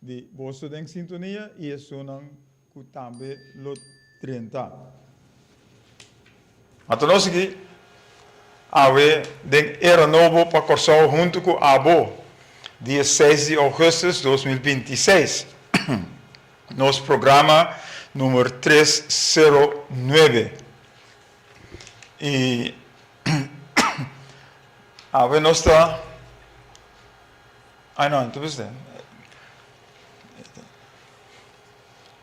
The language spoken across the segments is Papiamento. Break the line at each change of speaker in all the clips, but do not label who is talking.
di boso den sintonia y esunnan cu tambe lo drenta.
Ma ta no sigui awe den era nobo pa Corsou hunto cu abo. Di e seis di augustus dos mil binti i seis nos programa numer tres sero nuebe y awe nos ta.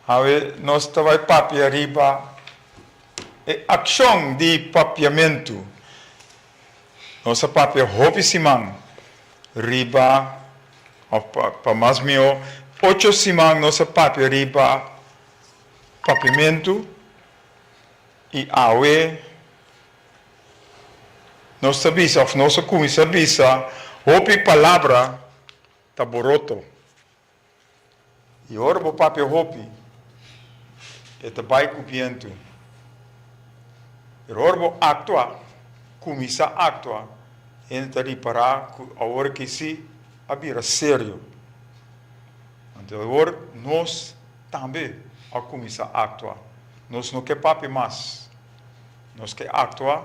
Awe nos ta bai papia riba e akshon di papiamentu. Nos a papia hopi siman riba, òf pa mas mihó ocho siman nos a papia riba papiamentu i awe. Nos ta bisa, òf nos a kuminsá bisa, hopi palabra ta boroto. I ora bo papia hopi, e ta bai ku bientu. Pero ora bo aktua, kuminsá aktua, hende ta ripará ku awor aki sí a bira serio. Anto awor nos tambe a kuminsá aktua. Nos no ke papia mas. Nos ke aktua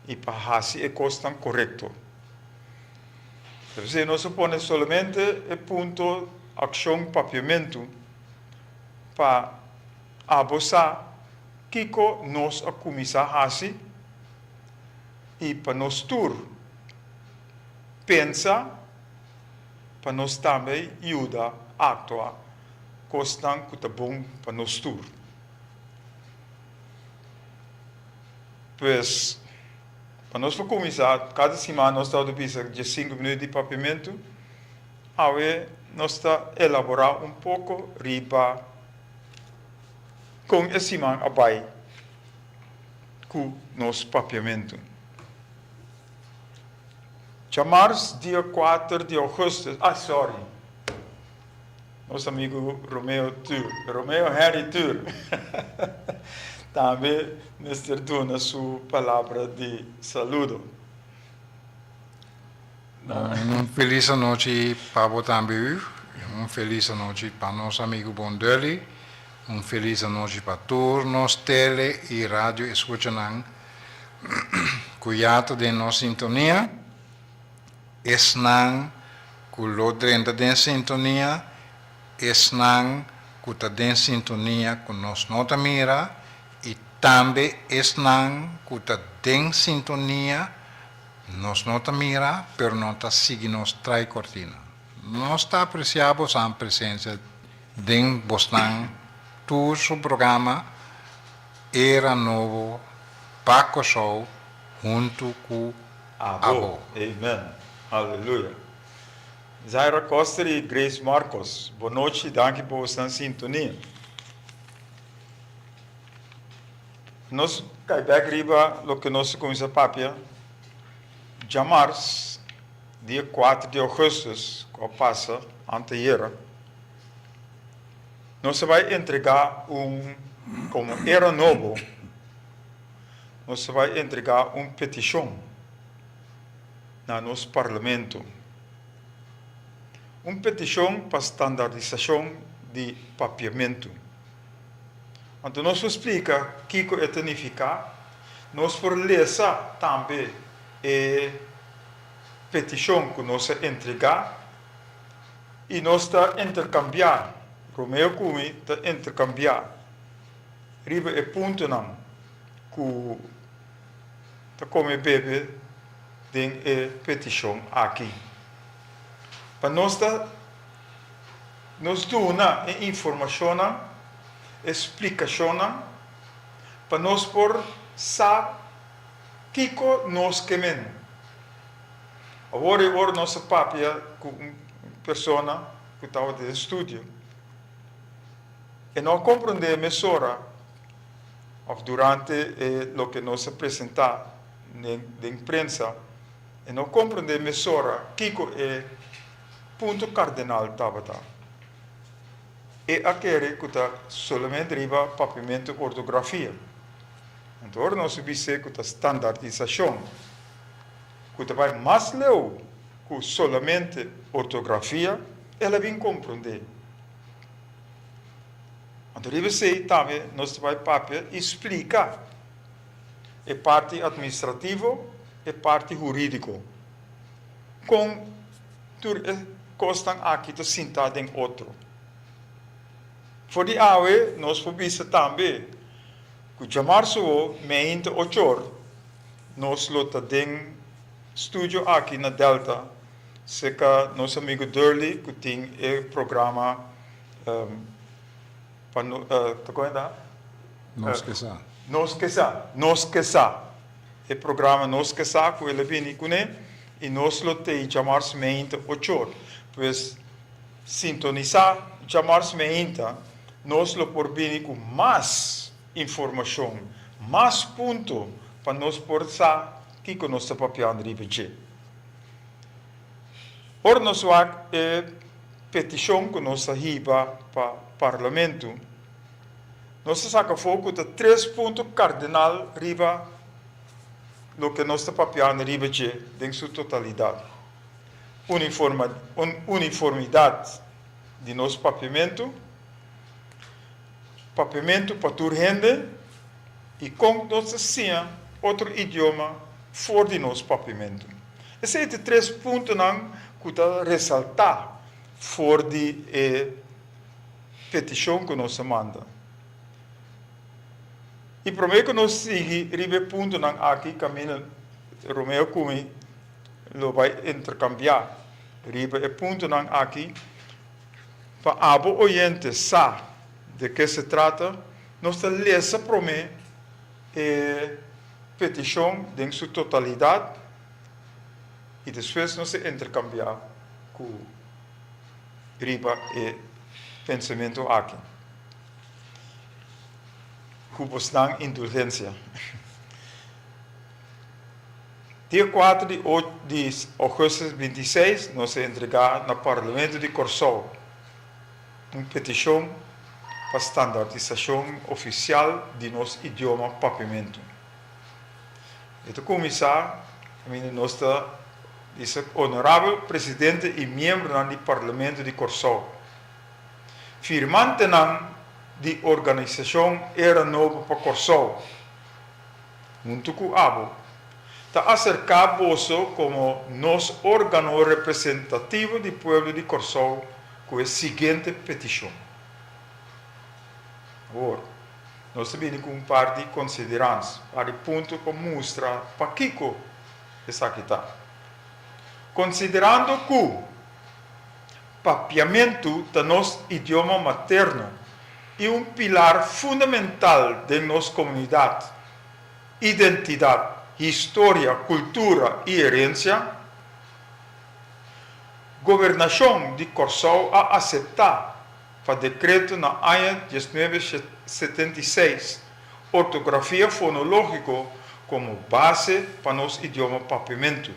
i pa hasi e kosnan korekto. Ta p'esei nos a pone solamente e punto akshon papiamentu pa abo sa kiko nos a kuminsá hasi i pa nos tur pensa pa nos tambe yuda aktua kosnan ku ta bon pa nos tur. Pues, pa nos por cuminsa, cada siman nos ta bisa dje cinco minuto di papiamento, awe nos ta elabora un poco riba con e siman a bay cu nos papiamento. Dja mars, dia cuater di augusto, ay sorry. Nos amigu Romeo Tur, Romeo Henry Tur, tambe mester duna su palabra di saludo.
Un felis anochi pa bo tambe Hugues, un felis anochi pa nos amigu bon Dully, un felis anochi pa tur nos tele y radio escuchanan cu ya ta den nos sintonia. esnan ku lo drenta den sintonia, esnan ku ta den sintonia ku nos no ta mira i tambe esnan ku ta den sintonia nos no ta mira pero nan ta sigui nos trai kortina. Nos ta apresiá bosnan presensia den bosnan tur su programa Era Nobo pa Kòrsou huntu ku. Abo. Amen.
Aleluya. Zaira Koster y Grace Marcos bo nochi danki por bo stan sintonia. Nos kai bek riba loke nos ta cuminsa papia djamars dia cuater di augustus cu a pasa anteayera. Nos ta bay entrega un como era nobo. Nos ta bai entregá un petishon na nos parlamento, un petishon pa standardisashon di papiamentu. Anto nos por splika kiko e ta nifiká, nos por lesa tambe e petishon ku nos a entregá i nos ta interkambiá, Romeo ku mi ta interkambiá. riba e puntonan ku ta kome bebe den e petishon aki. Pa nos ta nos duna e informashonnan, e splikashonnan pa nos por sa kiko nos ke mende. Awor e ora nos a papia ku un persona ku tabata den studio. E no a komprondé mesora òf durante e loke nos a presentá den prensa, e no komprondé mesora kiko e punto kardenal tabata. E a kere ku ta solamente riba papiamento ortografia. Anto ora nos a bis'é ku ta standardisashon, ku ta bai mas leu ku solamente ortografia, el a bin komprondé. Anto riba esei tambe nos ta bai papia i splika e parti atministrativo, e parti huridiko, kon tur e kosnan aki ta sinta den otro. For di awe nos por bisa tambe ku djamar suwo meiin ta ochor nos lo ta den studio aki na Delta, Se ka nos amigo Durley cu tin e programa pa
Nos ke sa. Nos ke sa, Nos
ke sa. E programa Nos ke sa cu el a bini cune y nos lo tey djamars meeinta ochor. Pues sintonisa djamars meeinta, nos lo por bini cu mas informacion, mas punto pa nos por sa kico nos ta papiando riba dje. Ora nos wak e petishon ku nos a hiba pa Parlamento, nos a saka afó ku ta tres punto kardinal riba loke nos ta papiando riba dje den su totalidat, uniformidat di nos papiamentu, Papiamentu pa tur hende i kon nos ta siña otro idioma for di nos papiamentu. Esei ta tres puntonan ku ta resaltá for di e petishon ku nos a manda. I promé ku nos sigui riba e puntonan aki kaminda Romeo ku mi lo bai interkambiá riba e puntonan aki. Pa abo oyente sa de ke se trata, nos ta lesa promé e petishon den su totalidat i despues nos ta interkambiá ku riba e pensamentu aki, ku bosnan indulgensia. Dia kuater di di Augustus binti seis nos a entregá na Parlamento di Kòrsou un petishon pa standardisashon ofisial di nos idioma Papiamentu. E ta kuminsá kaminda nos ta bisa Onorabel Presidente i miembronan di Parlamento di Kòrsou, firmantenan di organisashon Era Nobo pa Kòrsou, huntu ku abo, ta aserká boso komo nos órgano representativo di pueblo di Kòrsou ku e siguiente petishon. Awor, nos ta bini ku un par di konsiderans, par di punto pa mustra pakiko esaki ta. Konsiderando ku. Papiamentu ta nos idioma materno i un pilar fundamental den nos komunidat. Identidat, historia, kultura i herensia. Gobernashon di Kòrsou a aseptá, pa dekreto na aña diesnuebe setenta i seis, ortografia fonológiko komo base pa nos idioma Papiamentu.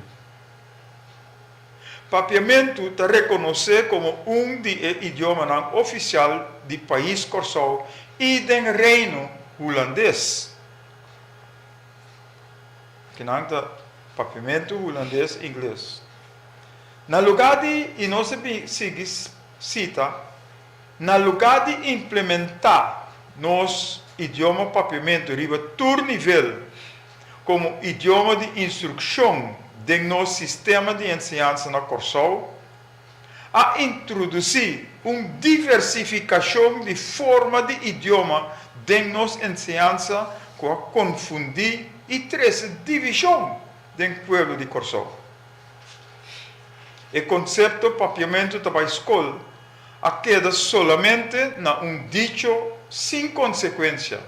Papiamentu ta rekonosé komo un di e idiomanan ofisial di pais Kòrsou i den Reino Hulandes. Ki nan ta Papiamentu Hulandes, Ingles. Na lugá di i nos a bin sigui sita, na lugá di implementá nos idioma papiamentu riba tur nivel, komo idioma di instrukshon den nos sistema di enseñansa na Kòrsou, a introdusí un diversifikashon di forma di idioma den nos enseñansa ku a konfundí i trese divishon den pueblo di Kòrsou. E konsepto papiamentu ta bai skol a keda solamente na un dicho sin konsekuensia.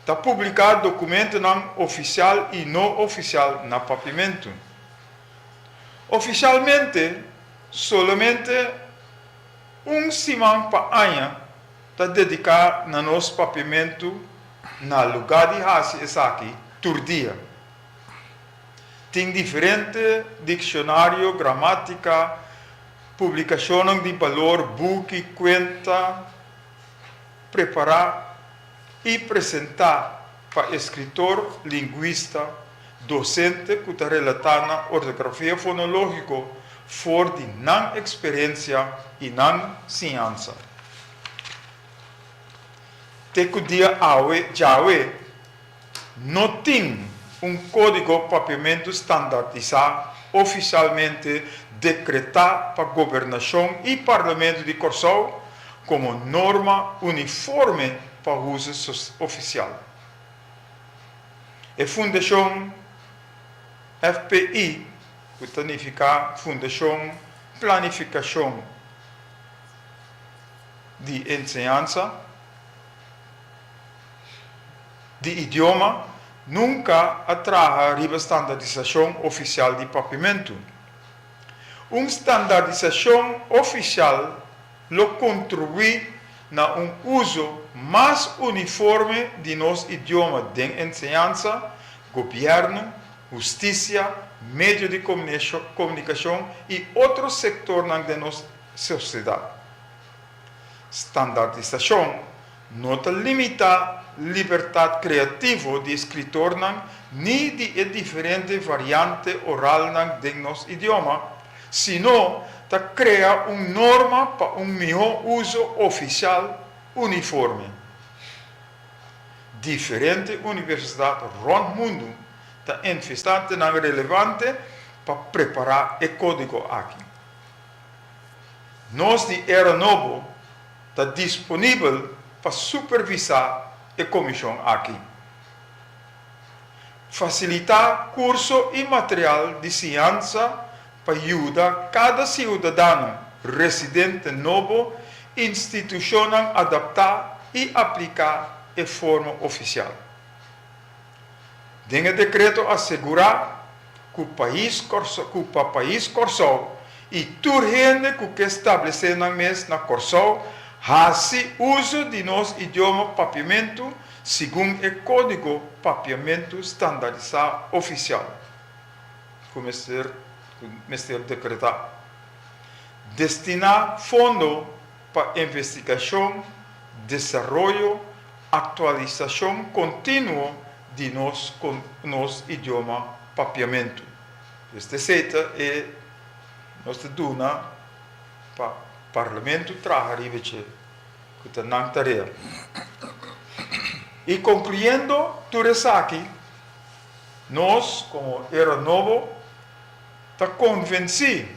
Ta publiká dokumentunan ofisial i no ofisial na Papimentu. Ofisialmente, solamente un siman pa aña ta dediká na nos Papimentu na lugá di hasi esaki tur dia. Tin diferente dikshonarioe, gramátika, publikashonnan di balor, buki, kuenta. prepará i presentá pa e skritor, lingwista, dosente ku ta relatá na ortografia fonológiko for di nan eksperensia i nan siñansa. Te ku dia awe djawe. No tin un kódigo papiamentu standartisá ofisialmente dekretá pa Gobernashon i Parlamentu di Kòrsou komo norma uniforme pa huzu ofisial. E fundashon FPI, ku ta nifiká Fundashon Planifikashon di Enseñansa, di idioma nunka a traha riba standardisashon ofisial di Papimentu. Un standardisashon ofisial lo kontribuí na un uso mas uniforme di nos idioma den enseñansa, gobièrnu, hustisia, medio di komunikashon i otro sektornan den nos sosiedat. Standaardisashon no ta limitá libertat kreativo di eskritornan ni di e diferente variante oralnan den nos idioma, sino ta krea un norma pa un mihó uso ofisial uniforme. Diferente universidat rònt mundu ta envestá te nan relevante pa prepará e kódigo aki. Nos di Era Nobo ta disponibel pa supervisá e komishon aki. Fasilitá kurso i material di siñansa pa yuda kada siudadano residente nobo institushonnan adaptá i apliká e forma ofisial. Den e dekreto a segurá ku pais ku pa pais Kòrsou i tur hende ku ke stablesé nan mes na Kòrsou hasi uso di nos idioma papiamentu segun e Kódigo Papiamentu Standardisá Ofisial ku mester mester dekretá. Destiná fondo. pa investigashon, desaroyo, aktualisashon kontinuo di nos kon nos idioma papiamentu. Pues ta esei e nos ta duna pa Parlamentu traha riba dje, ku ta nan tarea. I konkluyendo tur esaki, nos komo Era Nobo ta konvensí,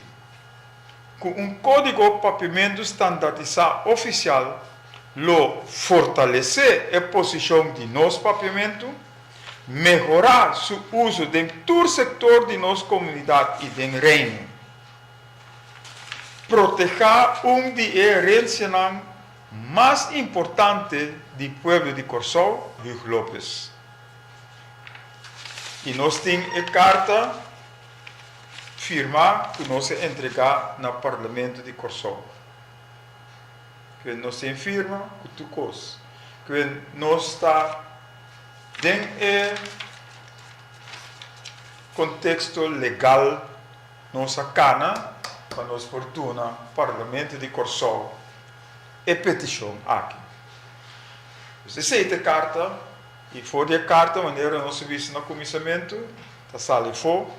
Cu un código papimentu standardisá oficial lo fortalecé e posicion di nos papiamentu, mehorá su uzo den tur sector di nos comunidad i den Reino, protehá un di e herencianan mas importante di pueblo di Corsou, Huug Lopes. I nos tin e carta. firma cu nos a entrega na Parlamento di Corsou. Kiben nos tin firma cu tur cos. Kiben nos ta den e contexto legal nos a cana pa nos por duna Parlamento di Corsou e peticion aki. Nos a esey ta e carta. I for di e karta, manera nos a bisa na kuminsamentu, ta sali afo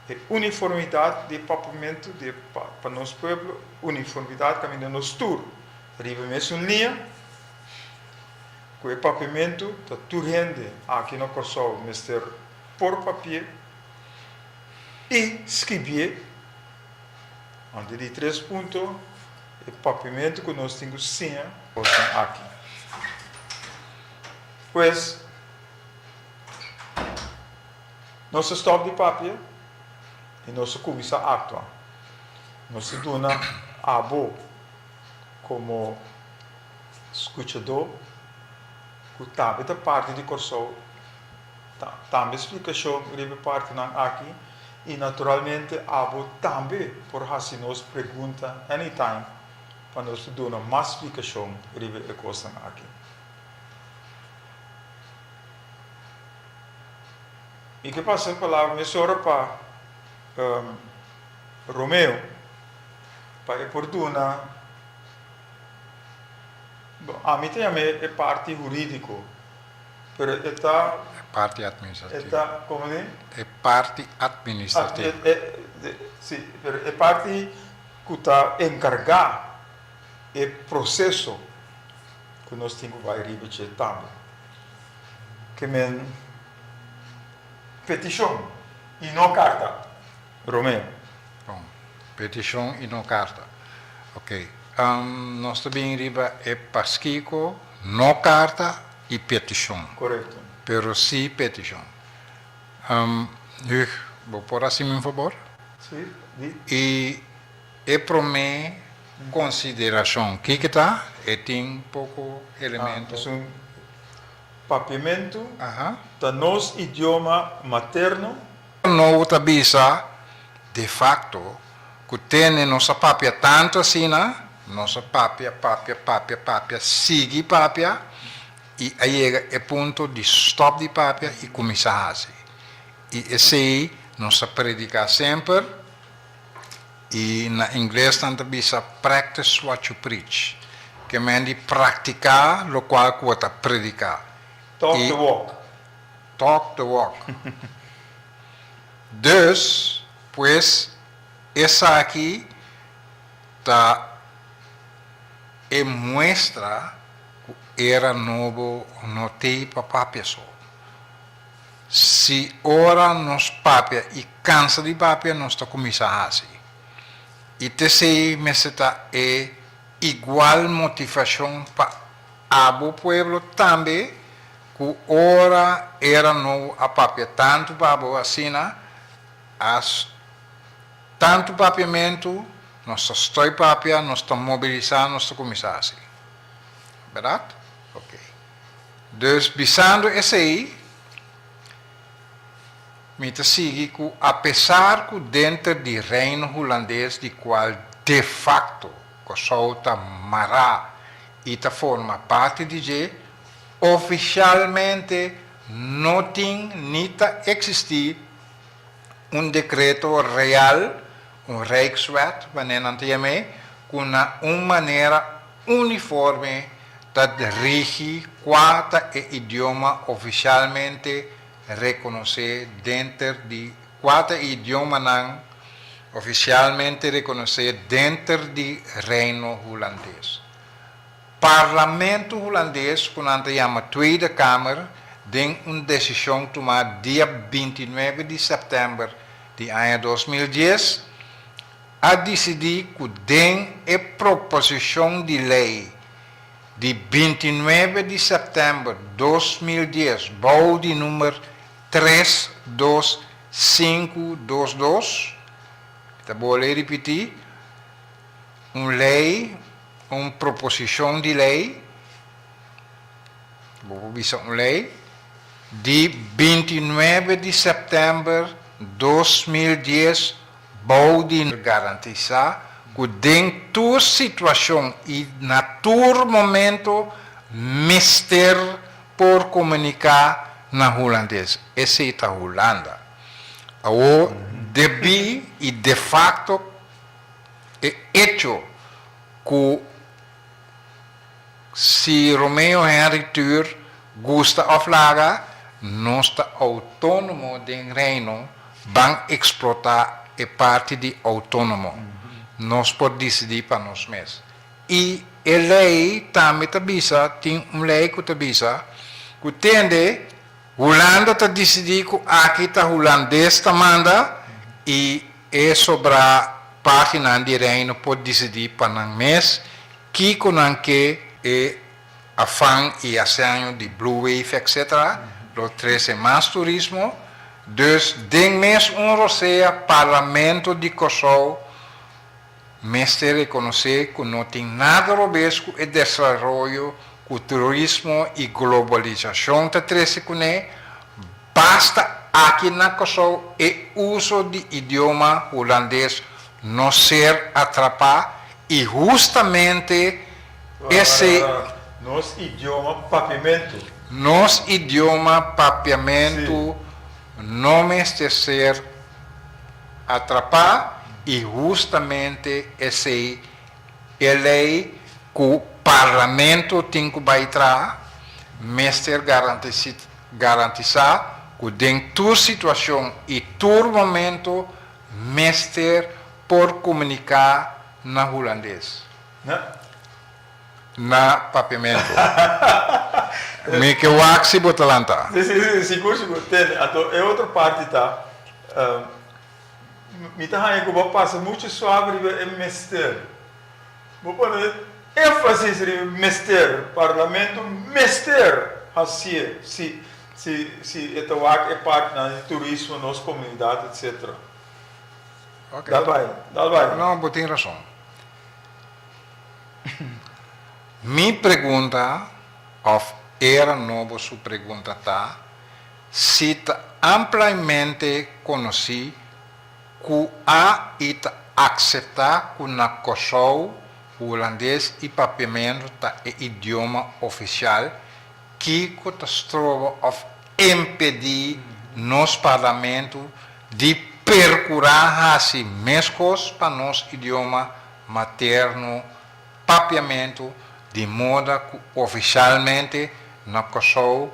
e uniformidat di e papamentu di e pa nos pueblo, uniformidat kaminda nos tur ta riba mesun liña, ku e papamentu ta tur hende aki na Kòrsou mester por papi'é i skibié. Antes di tres punto, e papamentu ku nos tin ku siña kosnan aki. Pues, nos a stòp di papia i nos a kuminsá aktua. Nos a duna abo komo skuchadó ku tambe ta parti di Kòrsou, ta tambe splikashon riba e partinan aki i naturalmente abo tambe por hasi nos pregunta anytime pa nos ta duna mas splikashon riba e kosnan aki. I ke pasa palabra mes ora pa Romeo pa e por duna, bo ami ta yama e parti huridico pero e ta e
parti administrativo e ta como di
e parti
administrativo
si pero e parti cu ta encarga. E proceso cu nos tin cu bay riba dje tabla ke men peticion y no carta, Romeo. Bon,
peticion y no carta. Ok, nos ta bini riba e paskico no carta y peticion. Corecto. Pero
si
peticion. Huig, bo por haci mi un fabor? Si, di.
Y.
E promé konsiderashon, kiko ta? E tin poko elemento. Esun
papiamentu
ta nos
idioma materno. Nobo ta
bisa de fakto ku tene nos a papia tantu asina, nos a papia, papia, papia, papia, sigui papia i a yega e punto di stòp di papia i kuminsá hasi. I esei nos a prediká semper. I na ingles nan ta bisa practice what you preach, ke men di praktiká lokual ku bo ta prediká. Talk the
walk. Talk
the walk. Dus, pues, esaki ta e muestra ku era nobo no tei papapia so. Si ora nos papia i kansa di papia nos ta kuminsá hasi i ta esei mester ta e igual motivashon pa abo pueblo tambe ku ora era nobo a papia tantu pa abo asina a tantu papiamentu nos ta stoi papia nos ta mobilisá nos ta kuminsá hasi berdad ok. Dus bisando esei, mi ta sigui cu apesar cu denter di Reino Hulandes di cual de facto Cosou ta mará y ta forma parti di dje, oficialmente no tin ni ta existi un decreto real, un Rijkswet manera nan ta yam'e, cu na un manera, Uniforme ta rigi kua ta e idioma oficialmente rekonosé denter di kua ta e idiomanan oficialmente rekonosé denter di Reino Hulandes. Parlamento Hulandes, ku nan ta yama Tweede Kamer, den un desishon tumá dia binti nuebe di sèptèmber di aña dos mil dies, a disidí ku den e proposishon di lei di binti nuebe di sèptèmber dos mil dies bou di númer tres dos sinku dos dos, mi ta bole e ripití, un lei, un proposishon di lei, bo por bisa un lei, di binti nuebe di sèptèmber dos mil dies, bou di garantisá ku den tur situashon i na tur momento mester por komuniká na hulandes, esei ta Hulanda. Awor debí i defakto e echo ku. Si Romeo Henry Tuur gusta of laga, nos ta autónomo den Reino, ban explotá e parti di autónomo. Nos por disidí pa nos mes. I e lei tambe ta bisa, tin un lei ku ta bisa, ku tende Hulanda ta disidí ku aki ta hulandes ta manda i E sobra Paginan di Reino por disidí pa nan mes kiko nan ke. E afan i haseño di Blue Wave etc. Lo trese mas turismo. Dus den mes un rosea Parlamento di Kòrsou mester rekonosé ku no tin nada robes ku e desaroyo ku turismo i globalisashon ta trese kuné. Pasta aki na Kòrsou e uso di idioma hulandes no ser atrapá i hustamente esei. Nos
idioma papiamentu. Nos
idioma papiamentu no mester ser atrapá i hustamente esei e lei ku Parlamento tin ku bai traha mester garantisá. Garantisá ku den tur situashon i tur momentu mester por komuniká na hulandes. Na papiamentu. Mi ke wak si bo ta lanta. Si, si, si, sigur,
sigur. Tende, anto e otro parti ta, mi ta haña ku bo pasa muchu suave riba e mester. Bo pone énfasis riba e mester, Parlamento mester hacié si si e ta wak e partnan di turismo, nos comunidad etc.
Ok. Dal bay, dal
bay. No, bo tin rason.
Mi pregunta of era no bo su pregunta ta si ta amplaimente conoci, Ku a i ta akseptá ku na Kòrsou hulandes i papiamentu ta e idioma ofisial, kiko ta stroba òf impedí nos Parlamentu di perkurá hasi meskos pa nos idioma materno, papiamentu di moda ku ofisialmente na Kòrsou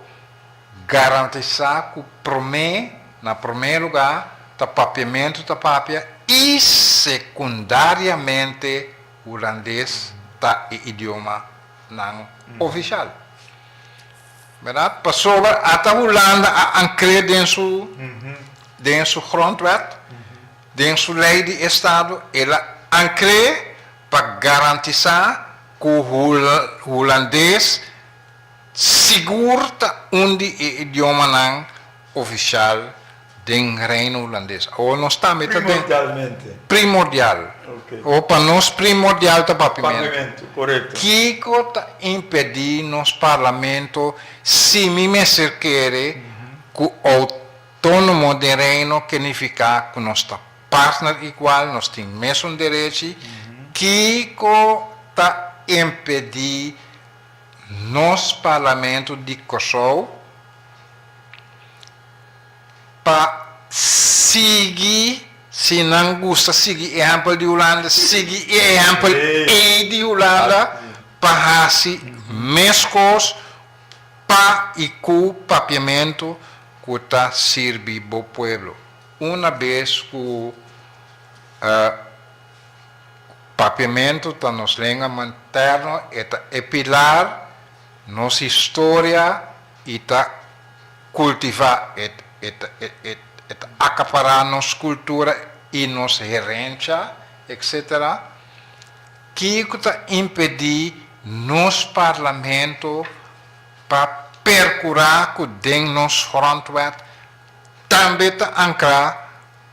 Garantisá ku promé, na promé lugá, ta papiamentu ta papia i sekundariamente hulandes ta e idioma nan ofisial. Berdad? Pasobra ata Hulanda a ankr'é den su den su grondwet, den su lei di estado, el a ankr'é pa garantisá ku hulandes. Sigur ta un di e idiomanan ofisial den Reino Hulandes. Awor nos tambe ta den. Primordialmente.
Primordial.
Ok. Awor pa
nos
primordial ta Papimentu. Papimentu, korekto. Kiko
ta
impedí nos Parlamento si mi mester kere ku outónomo den Reino ke nifiká ku nos ta partner igual, nos tin mesun derechi? Kiko ta impedí nos Parlamento di Kòrsou pa sigui, si nan gusta sigui e ehèmpel di Hulanda, sigui e ehèmpel ei di Hulanda pa hasi meskos pa i ku papiamentu ku ta sirbi bo pueblo. Una bes ku. Papiamentu ta nos lenga manterno, e ta e pilar nos historia y ta cultiva, e ta acapara nos cultura y nos herencha, etc. Kico ta impedi nos Parlamento pa percura cu den nos Grondwet tambe ta ancra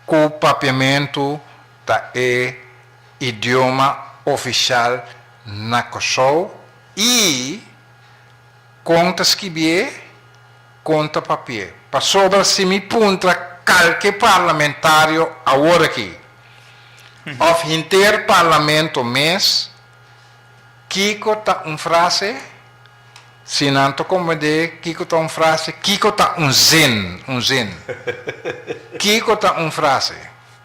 cu Papiamentu? Ta e idioma oficial na Kòrsou i kon ta skibié, kon ta papié. Pasobra si mi puntra kalke parlamentario awor aki, òf henter parlamento mes, kiko ta un frase, si nan ta komprendé kiko ta un frase, kiko ta un zin, un zin, kiko ta un frase.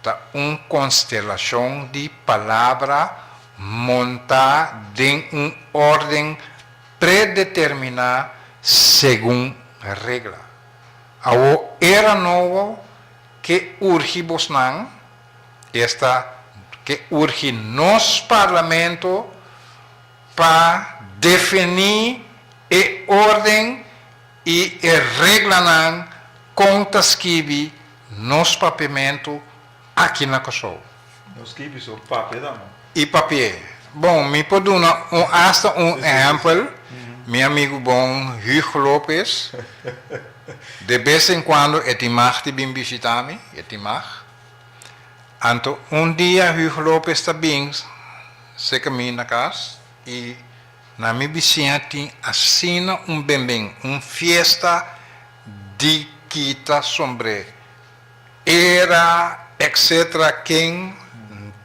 Ta un konstelashon di palabra montá den un órden predeterminá segun regla. Awo era nobo ke urgi bosnan, esta ke urgi nos parlamento pa definí e órden. I e reglanan kon ta skibi nos papiamentu aki na Kòrsou. No skibi so
papia ta no. I papia.
Bon, mi por duna un asta un ehèmpel. Mi amigu bon Huug Lopes, de bes en kuando e tin mag di bin bishitá mi, e tin mag. Anto un dia Huug Lopes ta bin seka mi na kas i. Na mi bisiña tin asina un benben, un fiesta di kita sombre era etc. Ken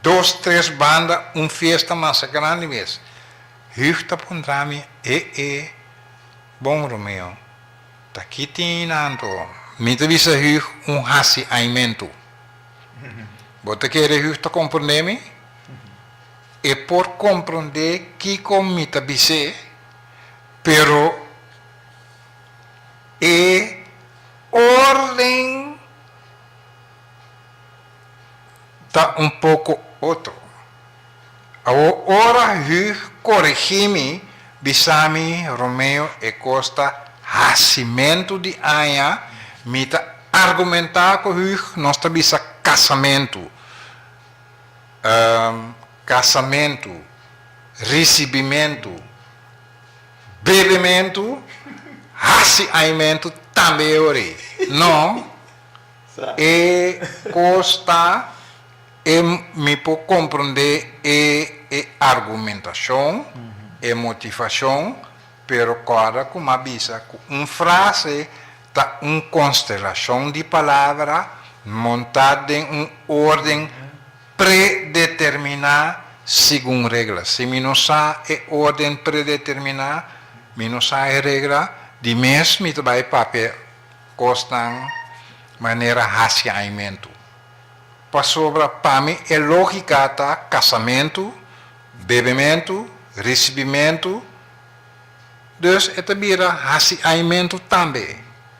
dos tres banda un fiesta masa grandi mes. Huug ta puntra mi, E e, bon Romeo, ta ki tin hinanto? Mi ta bisa Huug un hasi aimentu. Bo ta kere Huug ta comprende mi? e por comprende kico mi ta bis'é, pero e orden ta un poco otro. Awor ora Huug corigi mi, bisa mi, Romeo, e cos ta haci mentu di aña, mi ta argumenta cu Huug, nos ta bisa casamento. kasamentu, risibimentu, bebementu, hasi aimentu tambe e ora ei. No, e kos ta e mi por komprondé e e argumentashon, e motivashon, pero kòrda ku mi a bisa ku un frase, ta un konstelashon di palabra montá den un órden predeterminá segun regla. Si mi no sa e órden predeterminá, mi no sa e regla, di mes mi ta bai papia kosnan manera hasiaimentu. Pasobra pa mi e lógika ta kasamentu, bebementu, risibimentu, Dus e ta bira hasiaimentu tambe?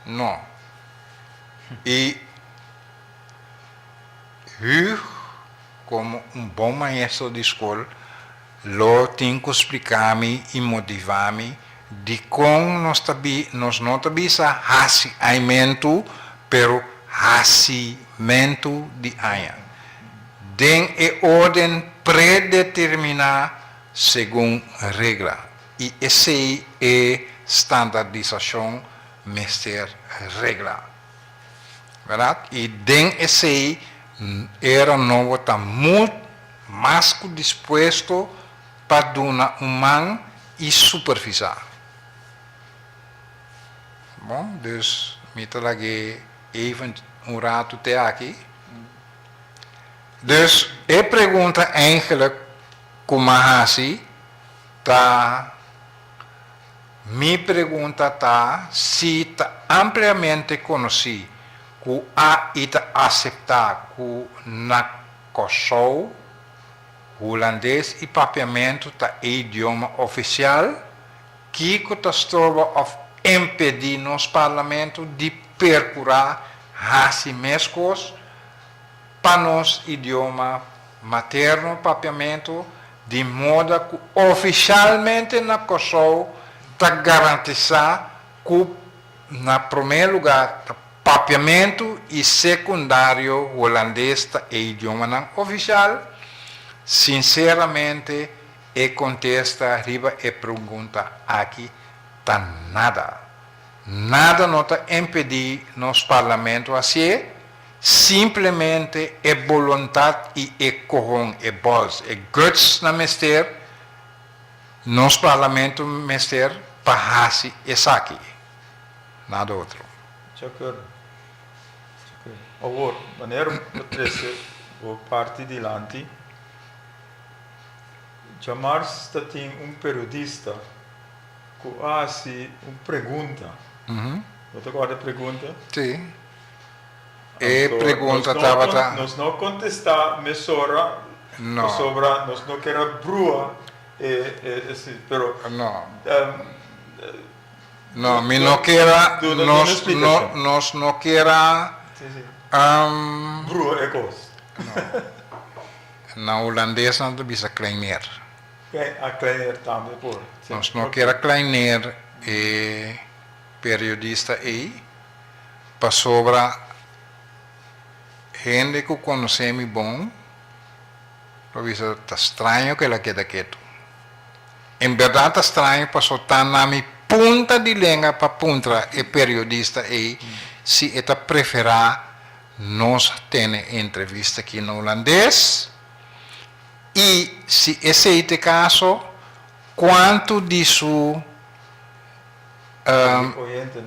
No. I Huug, komo un bon maestro di skol, lo tin ku splika mi i motiva mi dikon nos ta bi, nos no ta bisa hasiaimentu, pero hasimentu di aña, den e orden predeterminá. segun regla, i esei e standardisashon mester regla. Wèraat? I den esei era nobo ta mult mas ku dispuesto pa duna un man i supervisá. Bon, dus mi ta lag'é even un ratu te aki. Dus e pregunta, eindelijk. Ku m'a hasi ta Mi pregunta ta si ta ampliamente konosí ku ai ta aseptá ku na Kòrsou Hulandes i Papiamentu ta e idioma ofisial? Kiko ta stroba òf impedí nos Parlamentu di perkurá hasi meskos? Pa nos idioma materno papiamentu di moda ku ofisialmente na Kòrsou ta garantisá ku na promé lugá ta papiamentu i sekundario Hulandes ta e idiomanan ofisial, sinseramente e kontesta riba e pregunta aki ta nada. Nada no ta impedí nos parlamento hasié. Simplemente e boluntat i e cohon, e balls, e guts na mester, nos parlamento mester pa haci esaki, nada otro. De acuerdo.
De acuerdo. Awor, manera cu bo trece bo parti dilanti, djamars ta tin un periodista cu a haci un pregunta. Bo ta acorda e pregunta? Si.
E pregunta tabata. Nos no a contesta
mesora pasobra
nos no
ker a brua e esi pero.
No. No mi no ker a nos no ker a. Brua
e cos.
No. Na Hulandes nan ta bisa kleineer.
Kleineer tambe por. Nos no ker a
kleineer e. periodista ei pasobra hende ku konosé mi bon lo bisa ta straño ku el a keda ketu. En bèrdat ta straño paso ta na mi punta di lenga pa puntra e periodista ei si e ta preferá nos tene entrevista aki na hulandes i si esei t'e kaso kuantu di su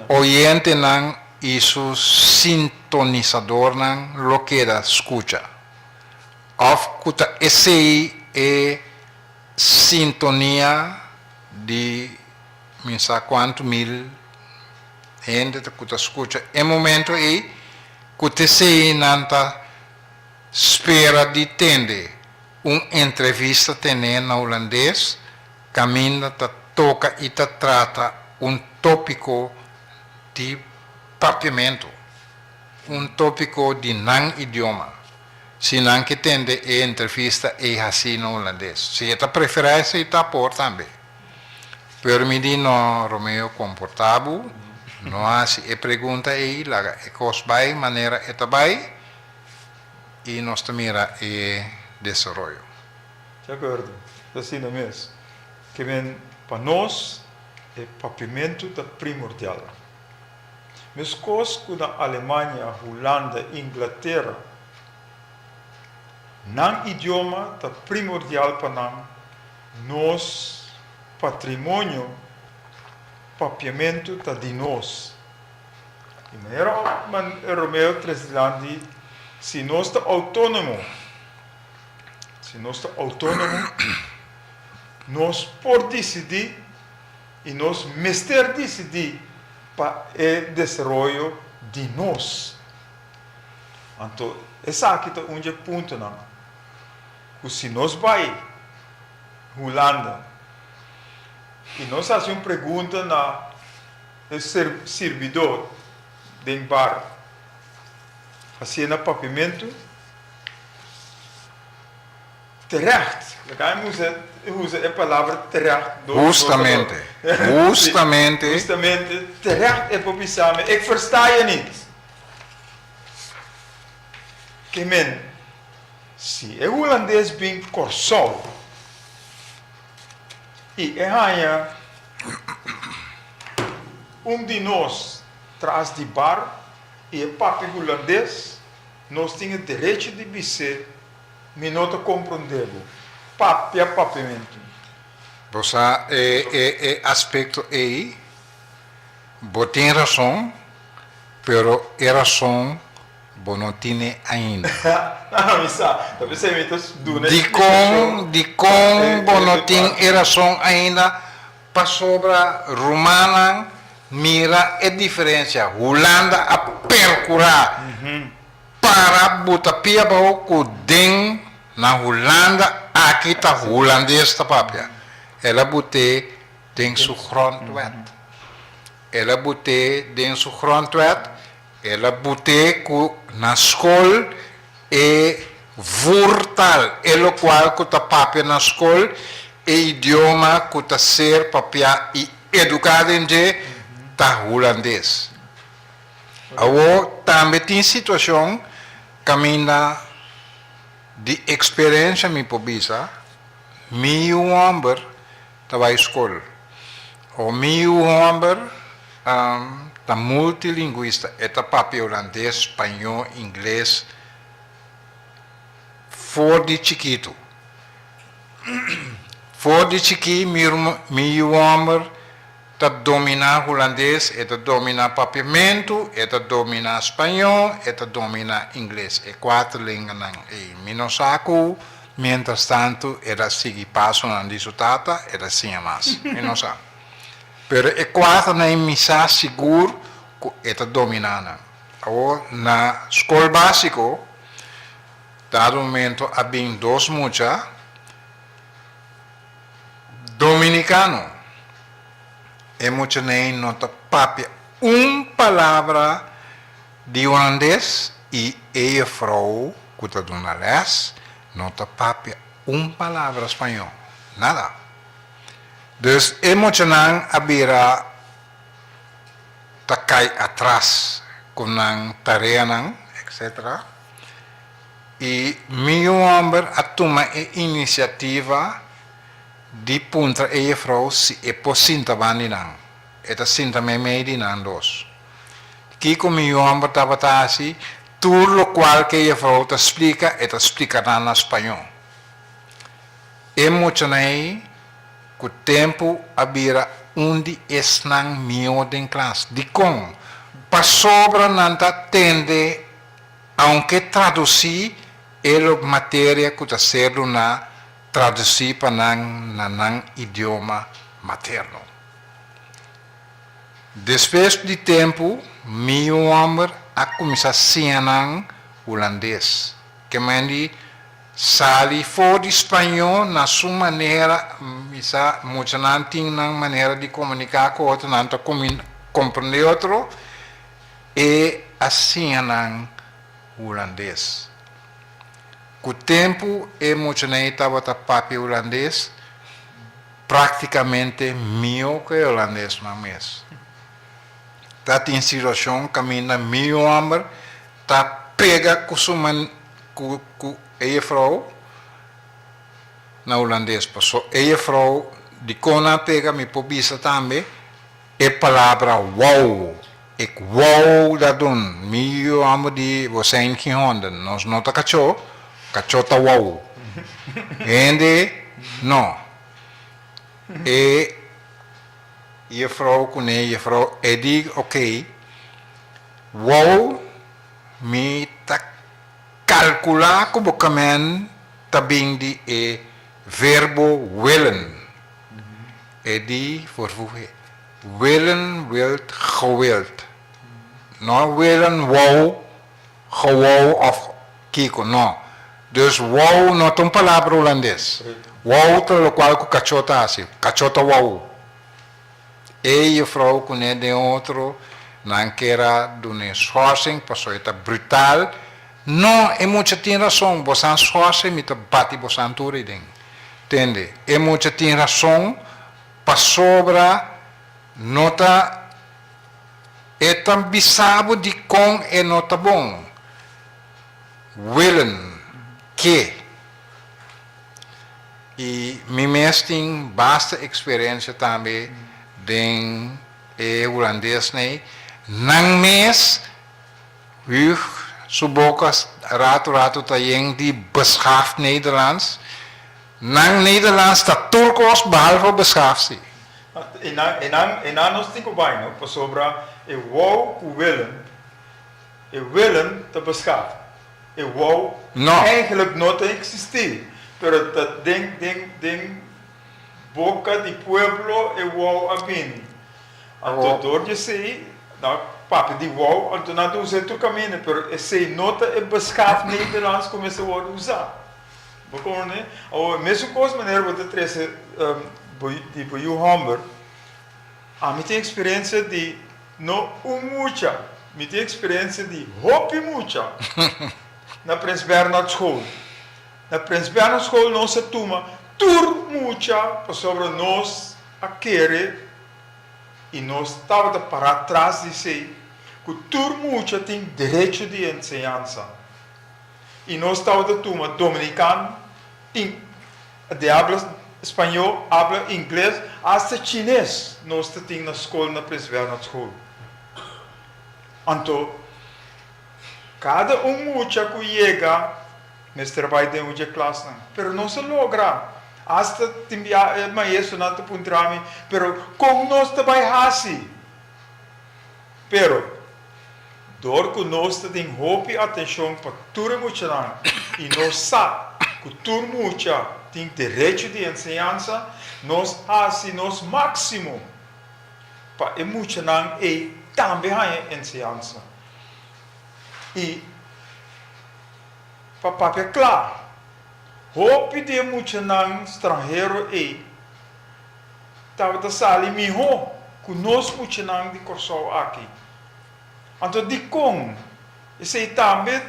oyentenan i su sintonisadornan lo keda skucha òf ku ta esei e sintonia di mi sa kuantu mil hende ku ta skucha e momentu ei ku tesei nan ta spera di tende un entrevista tene na hulandes. Caminda ta toca y ta trata un topico di papiamento, un topico di nan idioma. Si nan ki tende e entrevista ey haci na Hulandes. Si e ta prefera esey ta por tambe. Pero mi di no Romeo comporta bo, no haci e pregunta ey, laga e cos bay manera e ta bay y nos ta mira e desaroyo. Te
acuerdo? Ta asina mes. Ke men, pa nos e papimentu ta primordial. Meskos ku na Alemania, Hulanda, Inglatera, nan idioma ta primordial pa nan, nos patrimonio papiamentu ta di nos. Di manera Romeo tres di lanti, si nos ta autonomo, Si nos ta outónomo, nos por disidí i nos mester disidí pa e desaroyo di nos. Anto esaki ta un dje puntonan ku si nos bai Hulanda i nos hasi un pregunta na e sirbidó den bar, hasié na papimentu, Terecht. Laga mi usa usa e palabra terecht dos dos keer. Hustamente.
Si, Hustamente. hustamente,
terecht e por bisa mi, Ik versta je nit. Ke men, Si e hulandes bin Kòrsou i e haña un di nos tras di bar i e papia hulandes, Nos tin e derecho di bis'é, Mi no ta comprendé bo. Papia papiamentu. Bo sa
e e aspecto ei? Bo tin rason, pero e rason bo no tine ainda. Ahá, mi sa.
Ta p'esei mi ta duna e splikashon. Dikon,
dikon bo no tin e rason ainda? Pasobra rumannan mira e diferensia. Hulanda a perkurá para buta pia baho ku den na Hulanda aki ta hulandes ta papia. El a but'é den su grondwet. El a but'é den su grondwet. E la bute cu na scol e vurtal, e locual cu ta papia na scol e idioma cu ta ser papia y educa den dje ta Hulandes. Awo tambe tin situacion caminda di experencia mi por bisa, mi y un homber, ta bai skol. Ora mi yu hòmber ta multilingwista, e ta papia Ulandes, Spañó, Ingles for di chikitu. For di chikí mi yu hòmber. ta dominá hulandes, e ta dominá papiamentu, e ta dominá spañó, e ta dominá ingles, e kuater lenganan ei. Mi no sa ku mientrastantu el a sigui pasonan di su tata, el a siña mas. Mi no sa. Pero e kuaternan ei mi sa sigur ku e ta dominá nan. Awor, na skol básiko, dado momentu a bin dos mucha, Dominicano. E muchaney no ta papia un palabra di Hulandes y e juffrouw cu ta duna les no ta papia un palabra Spañol. Nada. Dus e muchanan a bira ta cay atras cu nan tareanan etc. I mi yu hòmber a tuma e inisiativa di puntra e jefrou si e por sinta ban di nan. E ta sinta meimei di nan dos. Kiko mi yu hòmber tabata hasi, tur lokual ku e jefrou ta splika, e ta splika nan na spañó. E muchanan ei ku tempu a bira un di esnan mihó den klas. Dikon? Pasobra nan ta tende. Aunke traducí e lo materia cu ta ser duna traducí pa nan na nan idioma materno. Despues di tempu mi y un homber a cuminsa siña nan Hulandes. Ke men di sali for di Spañó na su manera, mi sa muchanan tin nan manera di comunica cu otro, nan ta comprende otro, E a siña nan hulandes. Ku tempu e muchanan ei tabata papia hulandes praktikamente mihó ku e hulandesnan mes. Ta tin situashon kaminda mi homber ta pega ku su ku e juffrou na hulandes paso e juffrou dikon nan pega mi por bisa tambe. E palabra wou ik wou da dun mi yu amo di wosé in kin honda nos no ta kachó kachó ta wou hende no e jefrou kuné jefrou e di ok wou mi ta kalkulá ku bo kamen ta bin di e verbo willen. e di for fuhe. Willen, wilt, gewild. No willen, wou, gewou of kiko, no. Dus wou no ta un palabra Hulandes. Wou ta lokual ku kachó ta hasi. Kachó ta wou. E juffrou kuné den otro nan kera duna eshorsing pasobra e ta brutal. No, e mucha tin rason, bosan sòse mi ta bati bosan tur iden. Tende, e mucha tin rason pasobra no ta e ta bisa bo dikon e no ta bon. Willen, Ke i mi mes tin basta eksperensia tambe den e hulandes nei, nan mes. Huug, su boka rato rato ta yen di beschaafd Nederlands. Nan Nederlands ta tur kos behalve beschaafd, si. E nan, e
nan, e nan nos tin ku bai no, pasobra e wou ku willen, e willen ta beschaafd. E wou eigenlijk no ta eksistí, pero ta den, den, den boka di pueblo e wou a bini. Anto dor di esei na papia di wou, anto nan ta usa e trucamina, pero esei no ta e beschaf Nederlands cu mester worde usa. Bo con ne? Awor, mesun cos manera bo ta trece bo di bo yu homber, ami tin experiencia di no un mucha, mi tin experiencia di hopi mucha na Prins Bernhard School. Na Prins Bernhard School nos a tuma tur mucha pasobra nos a kere i nos tabata pará tras di esei ku tur mucha tin derecho di enseñansa i nos tabata tuma dominikan, in, di habla spañó, habla ingles, asta chines nos ta tin na skol na Prins Bernhard School. Anto. Kada un mucha ku yega mester bai den un dje klasnan. Pero nos a logra. Asta tin bia e maestronan ta puntra mi, Pero kon nos ta bai hasi? Pero, dor ku nos ta tin hopi atenshon pa tur e muchanan i nos sa ku tur mucha tin derecho di enseñansa, nos hasi nos máksimo pa e muchanan ei tambe haña enseñansa. I pa papia kla, hopi di e muchanan stranhero ei tabata sali mihó ku nos muchanan di Kòrsou aki. Anto dikon? Esei tambe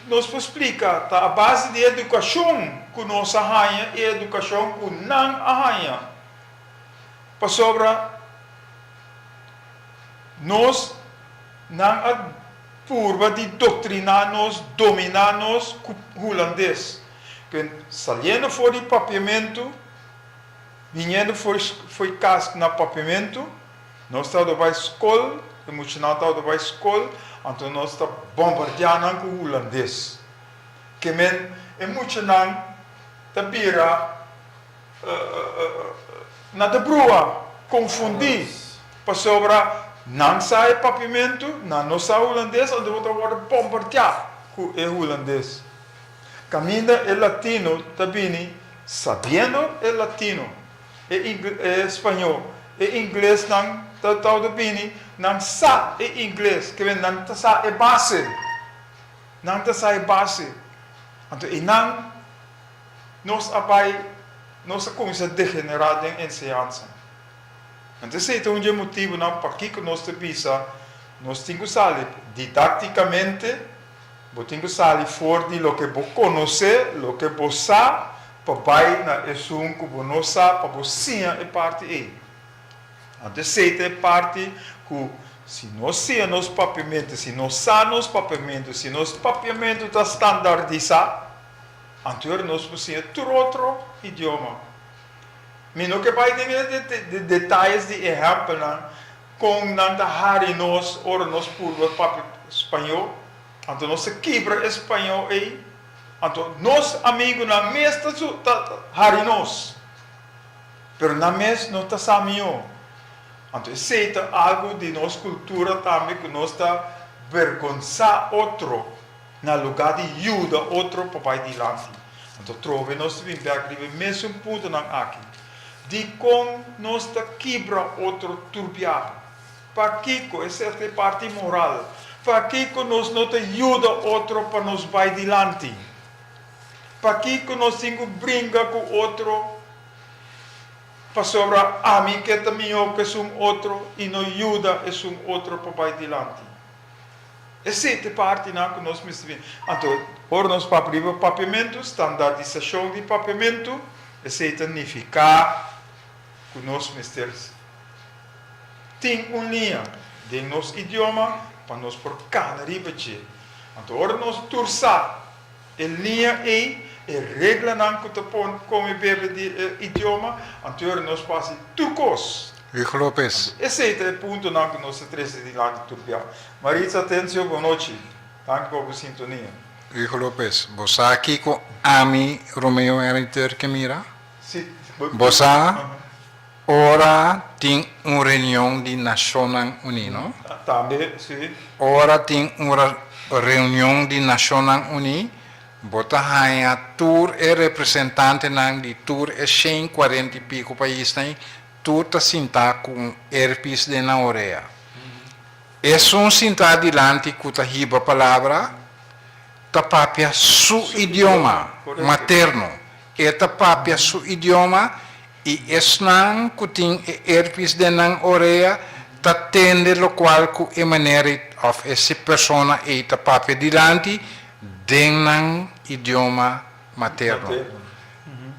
nos por splika ta a base di e edukashon ku nos a haña i e edukashon ku nan a haña. Pasobra. Nos nan a purba di doktriná nos, dominá nos ku hulandes. Pero saliendo for di papiamentu, biniendo for fo'i kas na papiamentu, nos ta wòrdu bai skol, e muchanan ta wòrdu bai skol, anto nos ta bombardiá nan ku hulandes. Ke men e muchanan ta bira. Nan ta bruha, konfundí, pasobra nan sa e papimentu, nan no sa hulandes, anto bo ta wòrdu bombardiá ku e hulandes. Kaminda e latino ta bini sabiendo e latino, e spañó, e ingles nan ta tawata bini, nan sa e ingles, kende nan ta sa e base, nan ta sa e base, anto i nan. Nos a bai, nos a kuminsá degenerá den enseñansa. Anto esei ta un dje motibunan pakiko nos ta bisa nos tin ku sali didáktikamente, bo tin ku sali for di loke bo konosé, loke bo sa, pa bai na esun ku bo no sa pa bo siña e parti ei. Anto esei ta e parti ku si nos siña nos papiamentu, si nos sa nos papiamentu, si nos papiamentu ta standardisá, Antuer nos por siña tur otro idioma. Mi no ke bai den e detayes di ehèmpelnan kon nan ta hari nos ora nos purba papia spañó, anto nos ta kibra e spañó ei, anto nos amigunan mes ta hari nos, pero nan mes no ta sa mihó. Anto esei ta algu di nos kultura tambe ku nos ta bergonsá otro. Na lugá di yuda otro pa bai dilanti, anto trobe nos ta bin bèk riba e mésun puntonan aki, Dikon nos ta kibra otro tur biaha? Pakiko, esèpto e parti moral, pakiko nos no ta yuda otro pa nos bai dilanti? Pakiko nos tin ku bringa ku otro pasobra ami ke ta mihó ku esun otro i no yuda esun otro pa bai dilanti? E sete partinan ku nos mester bini. Anto, ora nos papia riba papiamentu, standardisashon di papiamentu, esei ta nifiká ku nos mester tin un liña den nos idioma pa nos por kana riba dje. Anto, ora nos tur sa. E lia ei e reglanan ku ta pon kon e bebe di e idioma, anto yora nos fasi tur kos. Rick Lopez. Anto
esei ta e puntonan
ku nos ta trese tin lak di turbiá. Maritza Atencio Bonochi, Danki pa bo sintonia. Rick Lopez.
Bo sa kiko ami, Romeo Henry Turk, e mira? Si, bo.
Bo sa?
Ora tin un reunion di Nashonnan Uní, no? Tambe, sí.
Ora tin
un reunion di Nashonnan Uní, bo ta haña tur e representantenan di tur e shen kuarenta i piko paisnan ei tur ta sintá ku un erpis den nan orea. Esun sintá dilanti ku ta hiba palabra ta papia su idioma materno E ta papia su idioma y esnan cu tin e herpes den nan orea ta tende locual cu e manera of e persona ey ta papia dilanti den nan idioma materno.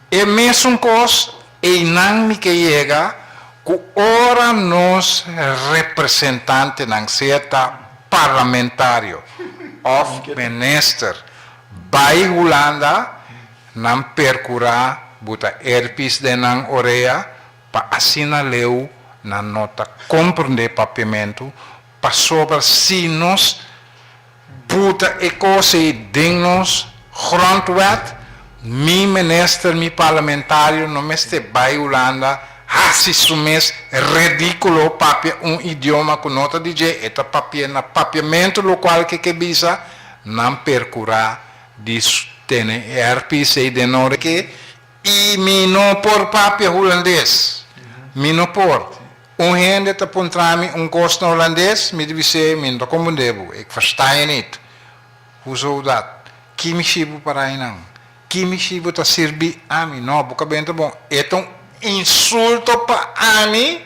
E mesun cos eynan mi ke yega cu ora nos representantenan, sea ta parlamentario of minister, bay Hulanda, Nan percura buta herpes den nan orea pa asina leu nan no ta comprende papiamento pasobra si nos buta e cos ey den nos grondwet mi minister mi parlamentario no mester bay Hulanda haci su mes ridiculo papia un idioma cu no ta di dje e ta papia na papiamento locual ke ke bisa nan percura di tene e RPC den Nooreke y mi no por papia Hulandes, mi no por. Un hende ta puntra mi un cos na Hulandes, mi di bis'e, mi no ta confunde bo, ik versta e nit. Hoe zou dat? Ki mi shi bo para einan? Ki mi shi bo ta sirbi ami? No, bo ka benta bon. E ta un insulto pa ami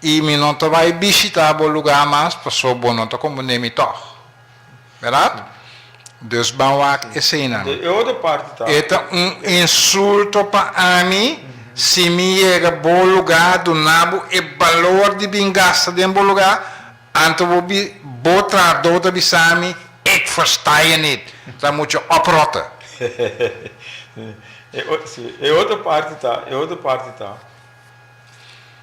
y mi no ta bay bishita bo lugar mas, paso bo no ta confunde mi tog. Berdad? Dus ban wak esena.
E ta un insulto
pa ami si mi yega bo lugá duna bo e balor di bin gasta den bo lugá anto bo bi bo trahadó ta bisa mi Ik versta je niet, ta mucho oprotte.
E otro parti ta, e otro parti ta,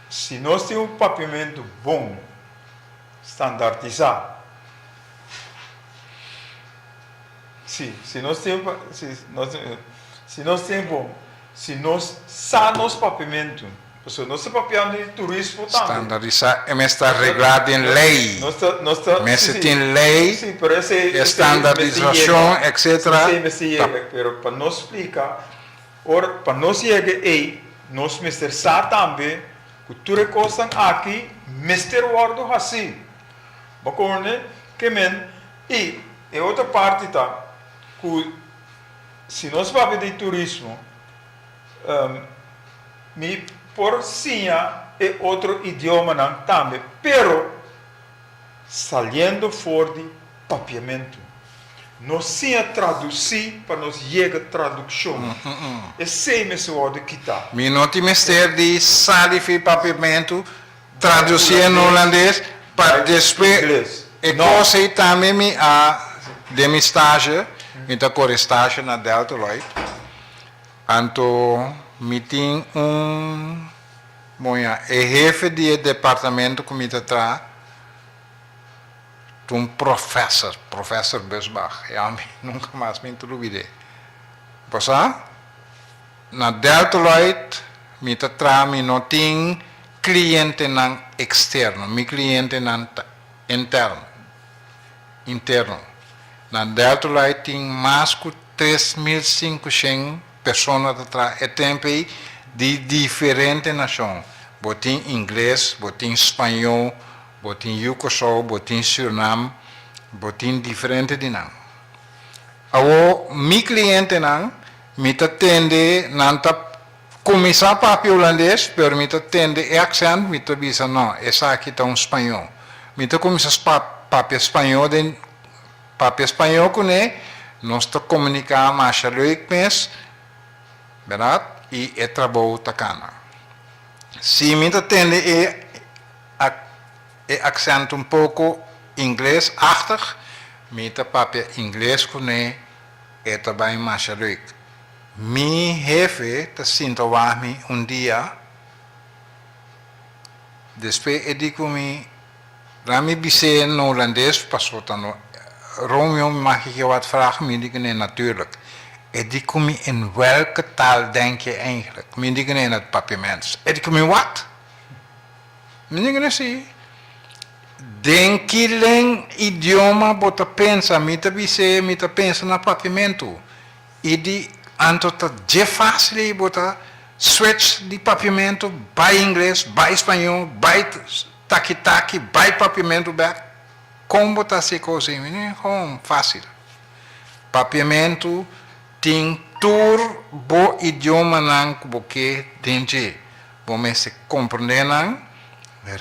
Si nos tin un papiamentu bon. Standartisá. Sí, si nos tempo, si nos tempo, si nos sa nos papiamentu, pasobra nos ta papiando di turismo tambe. Standardisá e mester
ta reglá den lei, mester tin lei, e
standardisashon,
etcetera, ta.
Pero pa nos splika, ora pa nos yega ei, nos mester sa tambe. Ku tur e kosnan aki mester wòrdu hasí. Bo kòrde ke men. I e otro parti ta ku si nos papia di turismo mi por siña e otro idiomanan tambe pero saliendo for di. Papiamentu. Nos siña traducí pa nos yega tradukshon. Esei mester wòrdu kitá. Mi no tin mester
di sa difí papiamentu traducí en hulandes pa despues e kos ei tambe mi a den mi stasje, mi ta kore stasje na Deltaloid, anto mi tin un moña e hefe di e departamentu ku mi ta traha. Ta un professor, professor Busbach, e hombre nunca mas mi ta lubid'é. Pasá na Deltaloid mi ta traha, mi no tin clientenan externo, mi clientenan ta interno, interno. Na Deltaloid tin mas cu tres mil cincuscent persona ta traha e tempo ei di diferente nacion. Bo tin ingles, bo tin spañó. Bo tin yu Kòrsou, bo tin Sürnam, bo tin diferente di nan. Awo mi klientenan, mi ta tende, nan ta kuminsá papia hulandes, pero mi ta tende e aksènt, mi ta bisa, no, esaki ta un spañó. Mi ta kuminsá papia spañó den papia spañó kuné, nos ta komuniká masha lüik mes, bèrdat? I e trabou ta kana. Si mi ta tende e. Ak e accent un poco ingles achtig, mi ta papia ingles cu ne e ta bay masha leuk. Mi hefe ta sinta wah mi un dia, despe e di cu mi, Laat mi bis'é na Holandes paso ta no reunion mi maki ke wad vraag, mi di cu ne, Natuurlijk. E di cu mi, In welke taal denk je eigenlijk? Mi di cu ne, In het papiaments. E di cu mi, Wat? Miren kende si den kilen idioma bo ta pensa, mi ta bis'é mi ta pensa na papiamentu, i di anto ta dje fásil ei bo ta switch di papiamentu bai ingles, bai spañó, bai taki taki, bai papiamentu bèk, kon bo ta hasi e kos ei? Miren kon fásil, papiamentu. Tin tur bo idiomanan ku bo ke den dje. Bo mester komprendé nan,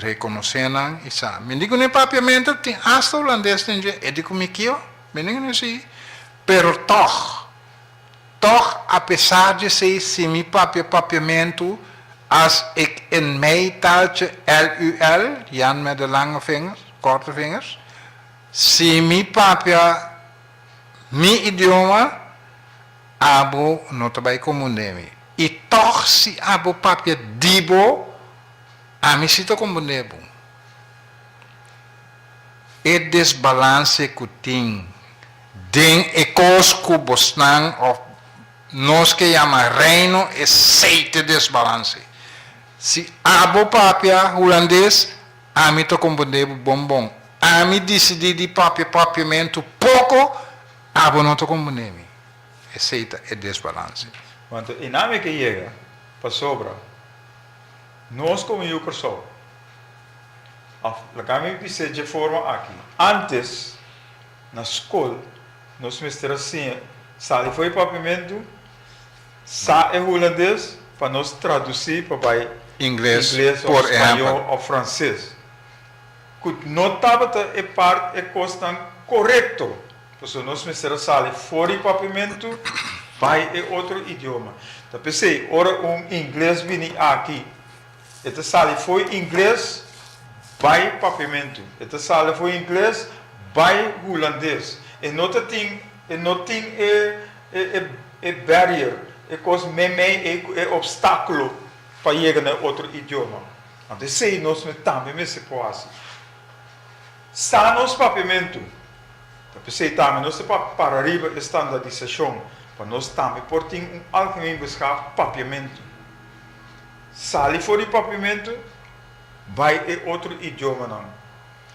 rekonosé nan i sa. Mi di ku n'e papiamentu tin asta hulandes den dje, e di ku mi kio? Mi di ku n'e si. Pero tòg, tòg apesar dje esei si mi papia papiamentu as ik in mei taltje LUL, Jan met de lange vingers, korte vingers, si mi papia. Mi idioma abo no ta bai komun den mi, i tòg si abo papia di bo, ami si ta komun den bo. E desbalanse ku tin den e kos ku bosnan òf nos ke yama Reino esei ta desbalanse. Si abo papia hulandes. Ami ta compondé bo bon bon. Ami dicidí di papia papia mentu poco, abo no ta compondé mi. Esei ta e desbalance. Manto e nami
ke yega, pasobra nos komo Yu Kòrsou, a laga mi bis'é dje forma aki. Antes, na skol, nos mester a siña sali for e papiamentu. Sa e hulandes pa nos traduci pa bai Ingles,
spaño
of frances. Cu no tabata e part e cosnan corecto, pasobra nos mester a sali for di papiamento bai e otro idioma. Ta pesey ora un Ingles bini aki, e ta sali fo'i Ingles bai papiamento, e ta sali fo'i Ingles bai hulandes. E no ta tin, e no tin e, e, e. E barrier, e kos meimei ei ku e opstákulo pa yega na e otro idioma. Anto esei nos no tambe mester por hasi. Sa nos papiamentu. Ta p'esei tambe nos ta papia para riba e standardisashon pa nos tambe por tin un algemeen beschaf papiamentu. Sali for di papiamentu, bai e otro idiomanan.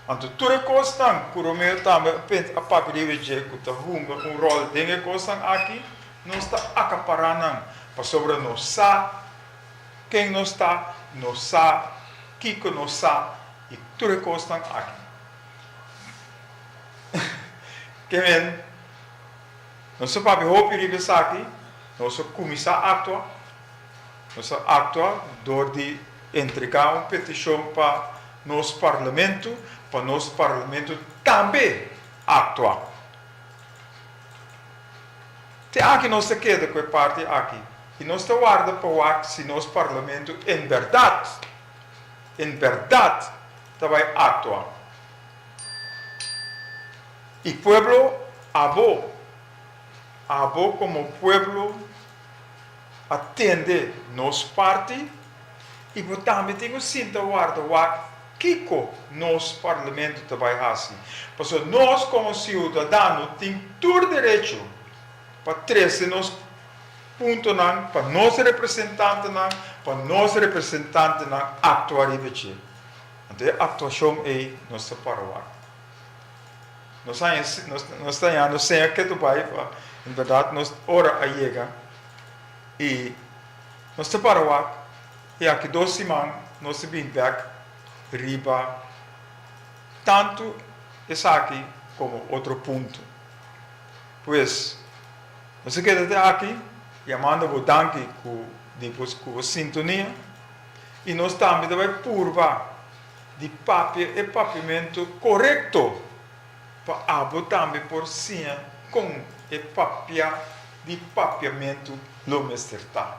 Anto tur e kosnan ku Romeo tambe a pent a papia di Rejé ku ta hunga un ròl den e kosnan aki, nos ta akapará nan pasobra nos sa ken nos ta, nos sa kiko nos sa i tur e kosnan aki. Ke men, nos a papia hopi riba esaki, nos a kuminsá aktua. Nos a actua door di entrega un peticion pa nos Parlamento pa nos Parlamento tambe actua. Te aki nos ta keda cu e parti aki y nos ta warda pa wak si nos Parlamento en berdad, en berdad ta bay actua. Y pueblo abo, abo como pueblo. a tende nos parti y bo tambe tin cu sinta warda wak kico nos Parlamento ta bay haci, pasobra nos como ciudadano tin tur derecho pa trece nos puntonan pa nos representantenan pa nos representantenan actua riba dje. Anto e actuacion ey nos ta para wak. Nos haña si nos ta yendo sea ke tu bai pa en berdad nos ora a yega y nos ta para wak y aki dos siman nos a bin bek riba tanto esaki como otro punto pues nos a keda te aki y a manda bo danki di bo sintonia y nos tambe ta bai purba. di papia e papimentu korekto pa abo tambe por siña kon e papia di papiamentu lo mester ta.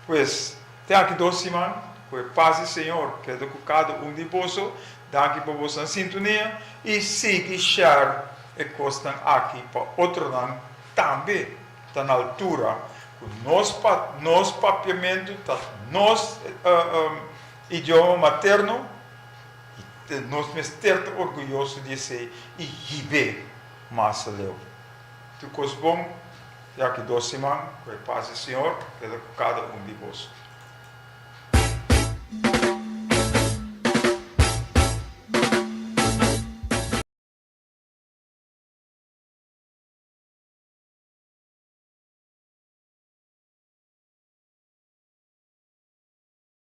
Pues, te aki dos siman, ku e pas di Señor keda ku kada un di boso. Danki pa boso sintunia i sigui share e kosnan aki pa otronan tambe ta na altura ku nos papiamentu ta nos. Idioma materno, i nos mester ta orguyoso di esei, i hib'é masa leu. Tur kos bon, ya ku dos siman ku e pas di Siñor keda ku kada un di boso.